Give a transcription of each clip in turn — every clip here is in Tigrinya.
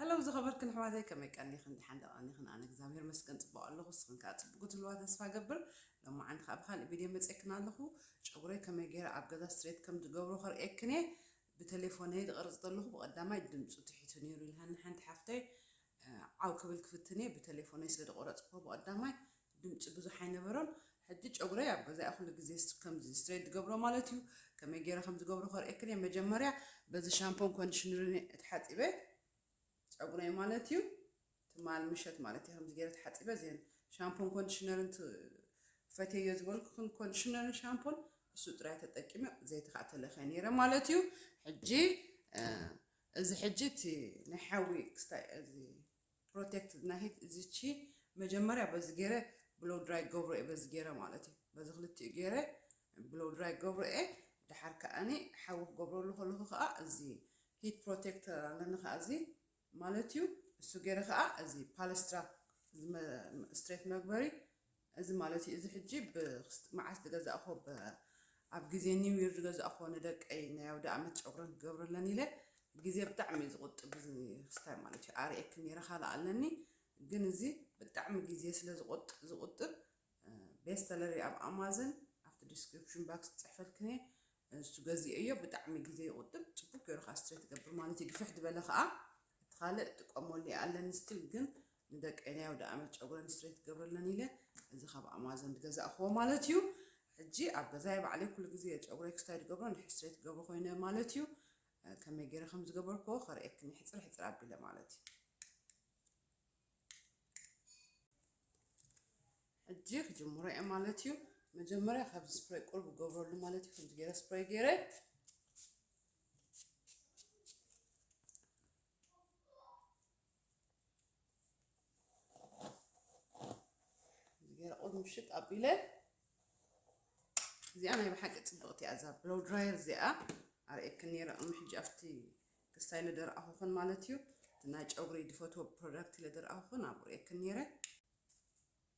ሀለው ዝኸበርክን ኣሕዋተይ ከመይ ቀኒኽን ደሓን ዶ ቀኒኽን ኣነ እግዚኣብሔር መስገን ፅቡቕ ኣለኹ ንስኽን ከዓ ፅቡቕ ክትህልዋ ተስፋ እገብር ሎማዓንቲ ከዓ ብካልእ ቪድዮ መፅኤክን ኣለኹ ጨጉረይ ከመይ ገይረ ኣብ ገዛ ስትሬት ከም ዝገብሮ ከርእየክን እየ ብተሌፎነይ ዝቐርፅ ዘለኹ ብቐዳማይ ድምፁ ትሒቱ ነይሩ ኢልሃኒ ሓንቲ ሓፍተይ ዓው ክብል ክፍትን እየ ብተሌፎነይ ስለ ዝቆረፅክዎ ብቐዳማይ ድምጺ ብዙሕ ኣይነበሮን ሕጂ ጨጉረይ ኣብ ገዛይ ኩሉ ግዜ ከምዚ ስትሬት ዝገብሮ ማለት እዩ ከመይ ጌረ ከም ዝገብሮ ከርእየክን እየ መጀመርያ በዚ ሻምፖን ኮንዲሽነርን እየ ተሓጺበ ጸጉረይ ማለት እዩ ትማል ምሸት ማለት እዩ ከምዚ ጌረ ተሓጺበ እዚን ሻምፖን ኮንዲሽነርን ፈትየዮ ዝበልኩክን ኮንዲሽነርን ሻምፖን እሱ ጥራይ ተጠቂመ ዘይቲ ከዓ ተለኸ ነይረ ማለት እዩ ሕጂ እዚ ሕጂ እቲ ናይ ሓዊ ክስታይ እዚ ፕሮቴክት ናሂት እዚቺ መጀመርያ በዚ ገይረ ብሎው ድራይ ክገብሮ እየ በዚ ገይረ ማለት እዩ በዚ ክልቲኡ ገይረ ብሎው ድራይ ክገብሮ እየ ድሓር ከኣኒ ሓዊ ክገብረሉ ከለኹ ከዓ እዚ ሂት ፕሮቴክት ኣለኒ ከዓ እዚ ማለት እዩ እሱ ገይረ ከዓ እዚ ፓለስትራ ስትሬት መግበሪ እዚ ማለት እዩ እዚ ሕጂ ብ ክስት መዓስ ዝገዛእክዎ ብ ኣብ ግዜ ኒው ይር ዝገዛእክዎ ንደቀይ ናይ ኣውደኣመት ጨጉረን ክገብረለን ኢለ ግዜ ብጣዕሚ እዩ ዝቁጥብ እዚ ክስታይ ማለት እዩ ኣርኤኪ ኔረ ካልእ ኣለኒ ግን እዚ ብጣዕሚ ግዜ ስለ ዝቆጥ ዝቁጥብ ቤስተለሪ ኣብ ኣማዘን ኣብቲ ዲስክሪፕሽን ባክስ ክጽሕፈልክን እየ እሱ ገዚኦዮ ብጣዕሚ ግዜ ይቁጥብ ጽቡቅ ገይሩ ከዓ ስትሬት ይገብር ማለት እዩ ግፍሕ ዝበለ ከዓ እቲ ካልእ ጥቀመሉ ኣለኒ ስቲል ግን ንደቀይ ናይ ኣውደኣመት ጨጉረን ስትሬት ክገብረለን ኢለ እዚ ካብ ኣማዞን ዝገዛእክዎ ማለት እዩ ሕጂ ኣብ ገዛይ ባዕለይ ኩሉ ግዜ እየ ጨጉረይ ክስታይ ዝገብሮ ንሕጂ ስትሬት ክገብሮ ኮይነ ማለት እዩ ከመይ ገይረ ከም ዝገበርክዎ ከርእየክን ሕጽር ሕጽር ኣቢለ ማለት እዩ ሕጂ ክጅምሮ እየ ማለት እዩ መጀመርያ ካብዚ ስፕሬይ ቁርብ ገብረሉ ማለት እዩ ከምዚ ገይረ ስፕሬይ ገይረ ገይረ ቁድ ምሽጥ ኣቢለ እዚኣ ናይ ብሓቂ ፅብቕቲ እያ እዛ ብሎው ድራየር እዚኣ ኣርእየክን ነይረ እሞ ሕጂ ኣብቲ ክስታይ ለደረኣኹኽን ማለት እዩ ናይ ጨጉሪ ዝፈትዎ ፕሮዳክት ለደረኣኹኽን ኣብኡ ርእየክን ነይረ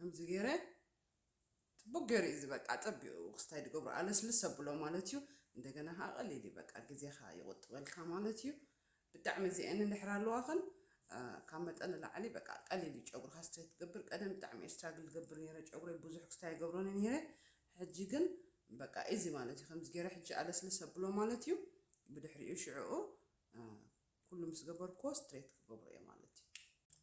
ከምዚ ገይረ ፅቡቅ ገይሩ እዩ ዝበቃ ፀቢቑ ክስታይ ድገብሮ ኣለስልስ ኣብሎ ማለት እዩ እንደገና ከዓ ቀሊል እዩ በቃ ግዜኻ ይቁጥበልካ ማለት እዩ ብጣዕሚ እዚኤን እንድሕር ኣለዋክን ካብ መጠን ንላዕሊ በቃ ቀሊል እዩ ጨጉርካ ስትሬት ትገብር ቀደም ብጣዕሚ እየ ስትራግል ዝገብር ነይረ ጨጉረይ ብዙሕ ክስታይ ኣይገብሮን ነይረ ሕጂ ግን በቃ ኢዚ ማለት እዩ ከምዚ ገይረ ሕጂ ኣለስልስ ኣብሎ ማለት እዩ ብድሕሪኡ ሽዕኡ ኩሉ ምስ ገበርኩዎ ስትሬት ክገብሮ እየ ማለት እዩ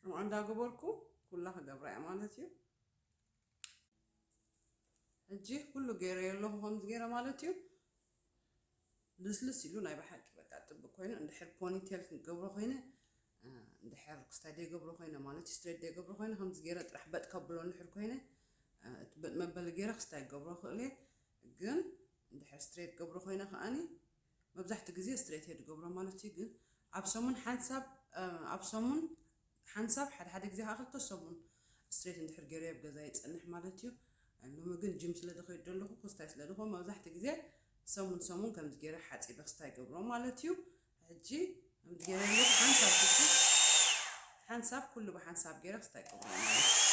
ከምኡ እንዳገበርኩ ኩላ ክገብራ እየ ማለት እዩ ሕጂ ኩሉ ገይረዮ ኣለኹ ከምዚ ገይረ ማለት እዩ ልስልስ ኢሉ ናይ ብሓቂ በቃ ጽብቅ ኮይኑ እንድሕር ፖኒ ቴል ክንገብሮ ኮይነ እንድሕር ክስታይ ደይገብሮ ኮይነ ማለት ስትሬት ደይገብሮ ኮይነ ከምዚ ገይረ ጥራሕ በጥ ከብሎ እንድሕር ኮይነ እቲ በጥ መበሊ ገይረ ክስታይ ክገብሮ ይኽእል እየ ግን እንድሕር ስትሬት ገብሮ ኮይነ ከኣኒ መብዛሕትኡ ግዜ ስትሬት እየ ዝገብሮ ማለት እዩ ግን ኣብ ሰሙን ሓንሳብ ኣብ ሰሙን ሓንሳብ ሓደ ሓደ ግዜ ከኣ ክልተ ሰሙን ስትሬት እንድሕር ጌረዮ ኣብ ገዛይ ይጸንሕ ማለት እዩ። ሎሚ ግን ጂም ስለ ዝኸይድ ዘለኹ ክስታይ ስለ ዝኾ መብዛሕትኡ ግዜ ሰሙን ሰሙን ከምዚ ጌረ ሓጺበ ክስታይ ይገብሮ ማለት እዩ። ሕጂ ከምዚ ጌረ ኣለኹ ሓንሳብ ሕጂ ሓንሳብ ኩሉ ብሓንሳብ ጌረ ክስታይ ይገብሮ ማለት እዩ።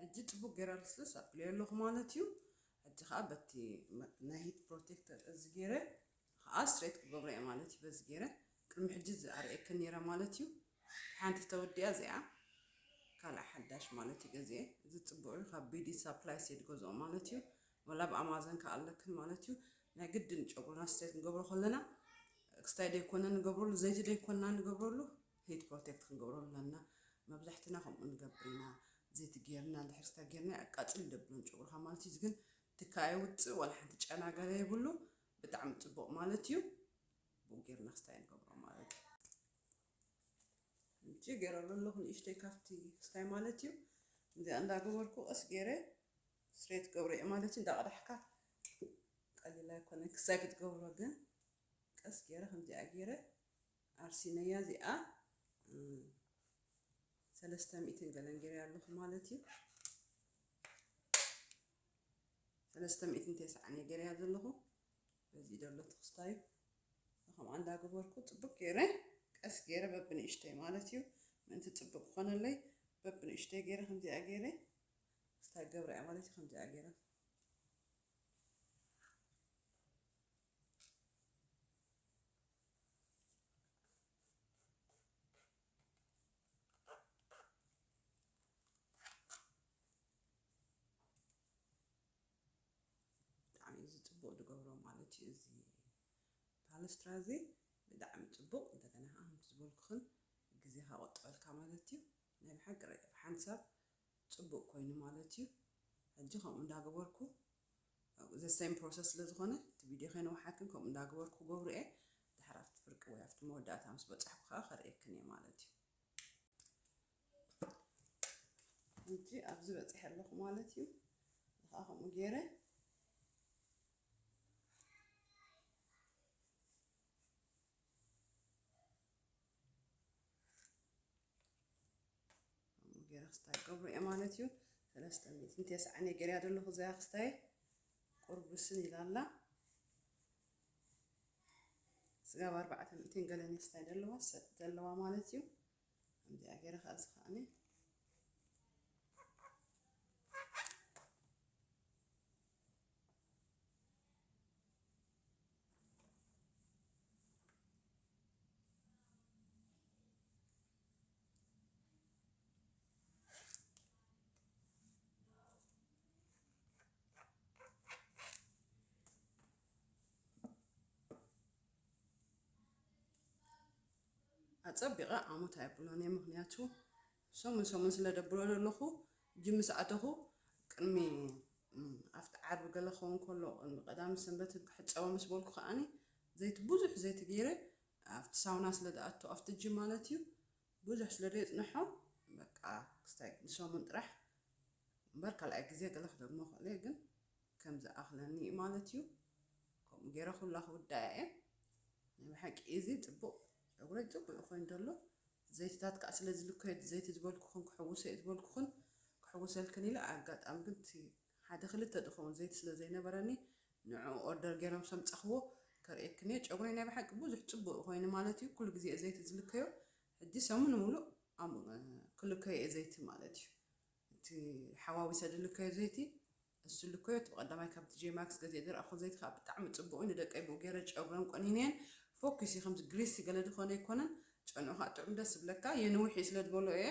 ሕጂ ጽቡቅ ጌረ ልስልስ ኣብልዮ ኣለኩ ማለት እዩ ሕጂ ከኣ በቲ ናይ ሂት ፕሮቴክተር እዚ ጌረ ከኣ ስትሬት ክገብሮ እየ ማለት እዩ በዚ ጌረ ቅድሚ ሕጂ እዚ ኣርእየክን ኔረ ማለት እዩ ሓንቲ ተወዲኣ እዚኣ ካልኣ ሓዳሽ ማለት እዩ ገዚኤ እዚ ጽቡቅ እዩ ካብ ቢዲ ሳፕላይስ እየ ዝገዝኦ ማለት እዩ ወላ ብ ኣማዘን ከኣ ኣለክን ማለት እዩ ናይ ግድን ጨጉርና ስትሬት ንገብሮ ከለና ክስታይ ደይኮነ ንገብረሉ ዘይቲ ደይኮንና ንገብረሉ ሂት ፕሮቴክት ክንገብሮ ኣለና መብዛሕትና ከምኡ ንገብር ኢና ዘይቲ ጌርና እንድሕር ተጌርናዮ ኣቃጽል ደብሎን ጨጉርካ ማለት እዩ እዚ ግን ትኪ ኣየውጽእ ዋላ ሓንቲ ጨና ገለ የብሉ ብጣዕሚ ጽቡቅ ማለት እዩ ብኡ ጌርና ክስታይ ንገብሮ ማለት እዩ እንጂ ጌረሉ ኣለኹ ንእሽተይ ካብቲ ክስታይ ማለት እዩ እዚኣ እንዳገበርኩ ቀስ ጌረ ስሬት ገብረ እየ ማለት እዩ እንዳቀዳሕካ ቀሊል ኣይኮነን ክሳይ ክትገብሮ ግን ቀስ ጌረ ከምዚኣ ጌረ ኣርሲነያ እዚኣ ሰለስተ ሚእትን ገለን ገይረያ ኣለኹ ማለት እዩ ሰለስተ ሚእትን ተስዓን እየ ገይረያ ዘለኹ በዚ ደሎ ትኽስታዩ ከምኣ እንዳገበርኩ ፅቡቅ ገይረ ቀስ ገይረ በብንእሽተይ ማለት እዩ ምእንቲ ፅቡቅ ክኾነለይ በብንእሽተይ ገይረ ከምዚኣ ገይረ ክስታይ ገብረ እያ ማለት እዩ ከምዚኣ ገይረ ስራ እዚ ብጣዕሚ ፅቡቕ እንደገና ከዓ ከምቲ ዝበልኩኽን ግዜኻ ቆጠበልካ ማለት እዩ ናይ ብሓቂ ሓንሳብ ጽቡቅ ኮይኑ ማለት እዩ ሕጂ ከምኡ እንዳ ገበርኩ the same process ስለ ዝኾነ እቲ ቪድዮ ከይነውሓክን ከምኡ እንዳ ገበርኩ ክገብሮ እየ ድሕር ኣብቲ ፍርቂ ወይ ኣብቲ መወዳእታ ምስ በጻሕኩ ከኣ ከርእየክን እየ ማለት እዩ ሕጂ ኣብዚ በጺሐ ኣለኹ ማለት እዩ ከኣ ከምኡ ገይረ ገይረ ክስታይ ገብሩ እየ ማለት እዩ ሰለስተ ሚእትን ተስዓን እየ ገይረያ ዘለኹ እዚኣ ክስታይ ቁርብስን ኢላ ኣላ ስጋብ ኣርባዕተ ሚእትን ገለን እየ ክስታይ ዘለዋ ዘለዋ ማለት እዩ ከምዚኣ ገይረ ከዓ እዚ ከዓኒ ኣጸቢቐ ኣሙት ኣይብሎን እየ ምኽንያቱ ሰሙን ሰሙን ስለ ደብሮ ዘለኹ ጅም ምስ ኣተኹ ቅድሚ ኣብቲ ዓርቢ ገለ ክኸውን ከሎ ቅድሚ ቀዳም ሰንበት ክሕጸቦ ምስ በልኩ ከኣኒ ዘይቲ ብዙሕ ዘይቲ ገይረ ኣብቲ ሳውና ስለ ዝኣቱ ኣብቲ ጅም ማለት እዩ ብዙሕ ስለ ዘየጽንሖ በቃ ክስታይ ንሰሙን ጥራሕ እምበር ካልኣይ ግዜ ገለ ክደግሞ ክእል እየ ግን ከም ዝኣኽለኒ እዩ ማለት እዩ ከምኡ ገይረ ኩላ ክውዳያ እየ ናይ ብሓቂ እዚ ጽቡቕ ጨጉረይ ጽቡቕ እዩ ኮይኑ ዘሎ ዘይትታት ከዓ ስለ ዝልከዮ ዘይቲ ዝበልኩኽን ክሕውሶ እየ ዝበልኩኽን ክሕውሰልክን ኢለ ኣጋጣሚ ግን እቲ ሓደ ክልተ ዝኸውን ዘይቲ ስለ ዘይነበረኒ ንዕኡ ኦርደር ገይሮም ሰምጻኽዎ ከርእየክን እየ ጨጉረይ ናይ ብሓቂ ብዙሕ ጽቡቕ እዩ ኮይኑ ማለት እዩ ኩሉ ግዜ እየ ዘይቲ ዝልከዮ ሕጂ ሰሙን ሙሉእ ክልከዮ እየ ዘይቲ ማለት እዩ እቲ ሓዋዊሰ ዝልከዮ ዘይቲ እሱ ልኮ እቲ ቀዳማይ ካብ ቲጄ ማክስ ገዚኤ ዝረኣኩዎ ዘይቲ ከኣ ብጣዕሚ ጽቡቅ እዩ ንደቀይ ብኡ ጌረ ጨጉረን ቆኒነየን ፎኪስ እዩ ከምዚ ግሪሲ ገለ ድኮነ ኣይኮነን ጨንኡ ከኣ ጥዑም ደስ ዝብለካ የንውሕ እዩ ስለ ድበሎ እየ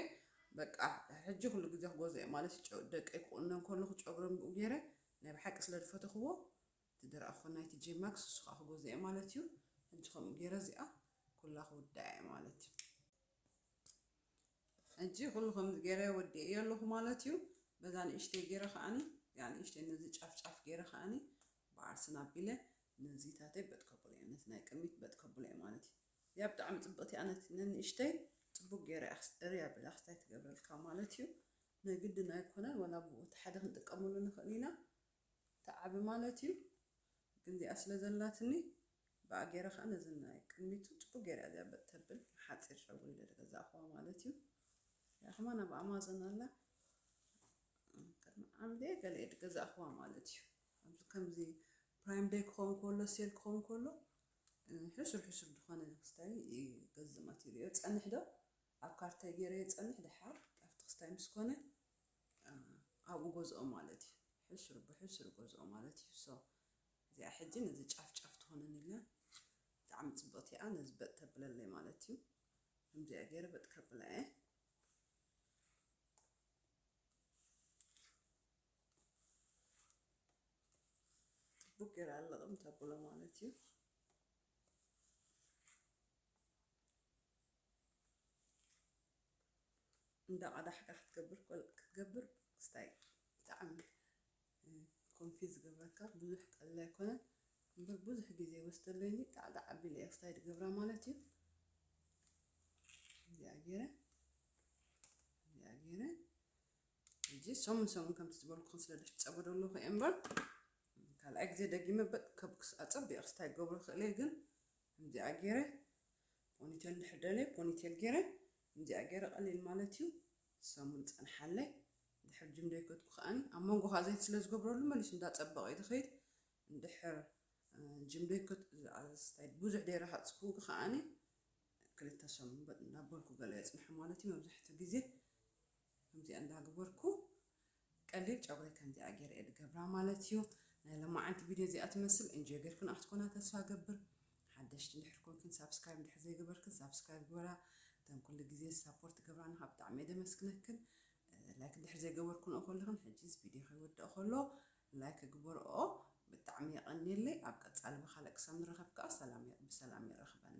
በቃ ሕጂ ኩሉ ግዜ ክገዝኦ እየ ማለት እዩ ደቀይ ክቁንነን ከለኩ ጨጉረን ብኡ ጌረ ናይ ብሓቂ ስለ ድፈተኩዎ እቲ ድረኣኩዎ ናይ ቲጄ ማክስ እሱ ከኣ ክገዝኦ እየ ማለት እዩ ሕጂ ከምኡ ጌረ እዚኣ ኩላ ክውድኣ እየ ማለት እዩ። ሕጂ ኩሉ ከምዚ ጌረ ወዲኤዮ ኣለኩ ማለት እዩ በዛ ንእሽተይ ጌረ ከኣኒ እዚኣ ንእሽተይ ነዚ ጫፍ ጫፍ ጌረ ከኣኒ ብዓርሰን ኣቢለ ነዚታተይ በጥ ከብሎ እየ ነቲ ናይ ቅድሚት በጥ ከብሎ እየ ማለት እዩ እዚኣ ብጣዕሚ ጽብቕቲ እያ ነቲ ነንእሽተይ ጽቡቅ ጌረ እያ ክስደሪ ኣቢላ ክስታይ ትገብረልካ ማለት እዩ ናይ ግድን ኣይኮነን ወላ ብኡ እቲ ሓደ ክንጥቀመሉ ንኽእል ኢና ትዓቢ ማለት እዩ ግን እዚኣ ስለ ዘላትኒ ብኣ ገይረ ከኣ ነዚ ናይ ቅድሚቱ ጽቡቅ ገይረ እያ እዚኣ በጥ ተብል ንሓጺር ሸጉሪ ኢለ ዝገዛእክዋ ማለት እዩ እዚኣ ከማን ኣብ ኣማዞን ኣላ ቅድሚ ዓመት እየ ገለ እየ ዝገዛእክዋ ማለት እዩ ኣብዚ ከምዚ ፕራይም ደይ ክኸውን ከሎ ሴል ክኸውን ከሎ ሕሱር ሕሱር ዝኾነ ክስታይ ይገዝእ ማቴሪዮ ጸንሕ ዶ ኣብ ካርታይ ጌረ የጸንሕ ደሓር ኣብቲ ክስታይ ምስ ኮነ ኣብኡ ገዝኦ ማለት እዩ ሕሱር ብሕሱር ገዝኦ ማለት እዩ so እዚኣ ሕጂ ነዚ ጫፍ ጫፍ ትኾነኒ ኣላ ብጣዕሚ ጽብቕቲ እያ ነዚ በጥ ተብለለይ ማለት እዩ ከምዚኣ ጌረ በጥ ከብላ እየ ጽቡቅ ጌረ ኣለቕም ተብሎ ማለት እዩ እንዳ ቃዳሕካ ክትገብር ኮል ክትገብር ክስታይ ብጣዕሚ ኮንፊዝ ዝገብረካ ብዙሕ ቀሊል ኣይኮነን እምበር ብዙሕ ግዜ ይወስደለይኒ ጣዕጣዕ ኣቢለ እየ ክስታይ ዝገብራ ማለት እዩ እዚኣ ገይረ እዚኣ ገይረ ሕጂ ሰሙን ሰሙን ከምቲ ዝበልኩኹም ስለ ዝሕፀቦ ዘለኹ እየ እምበር ካልኣይ ግዜ ደጊመ በጥ ከብክስ ኣፀቢቑ ክስታይ ክገብሮ ክእል እየ ግን ከምዚኣ ጌረ ፖኒቴል እንድሕር ደልየ ፖኒቴል ጌረ ከምዚኣ ጌረ ቀሊል ማለት እዩ ሰሙን ጸንሓለይ እንድሕር ጅም ደይከድኩ ከኣኒ ኣብ መንጎ ከኣ ዘይቲ ስለ ዝገብረሉ መሊሱ እንዳጸበቐ እዩ ዝኸይድ እንድሕር ጅም ደይከድ ኣስታይ ብዙሕ ደይረሃጽኩ ከኣኒ ክልተ ሰሙን በጥ እንዳበልኩ ገለ የጽንሖ ማለት እዩ መብዛሕትኡ ግዜ ከምዚኣ እንዳገበርኩ ቀሊል ጨጉረይ ከምዚኣ ጌረ እየ ዝገብራ ማለት እዩ። ናይ ሎማዓንቲ ቪድዮ እዚኣ ትመስል እንጆይ ጌርክንኦ ክትኮና ተስፋ እገብር። ሓደሽቲ እንድሕር ኮንክን ሳብስክራይብ እንድሕር ዘይገበርክን ሳብስክራይብ ግበራ። እተን ኩሉ ግዜ ሳፖርት ትገብራና ካብ ብጣዕሚ እየ ደመስግነክን። ላይክ እንድሕር ዘይገበርክንኦ ከለኽን ሕጂስ ቪድዮ ከይወድእ ከሎ ላይክ ግበርኦ። ብጣዕሚ የቐንየለይ። ኣብ ቀጻሊ ብኻልእ ክሳብ ንራኸብ ከኣ ሰላም ብሰላም የራኽበና።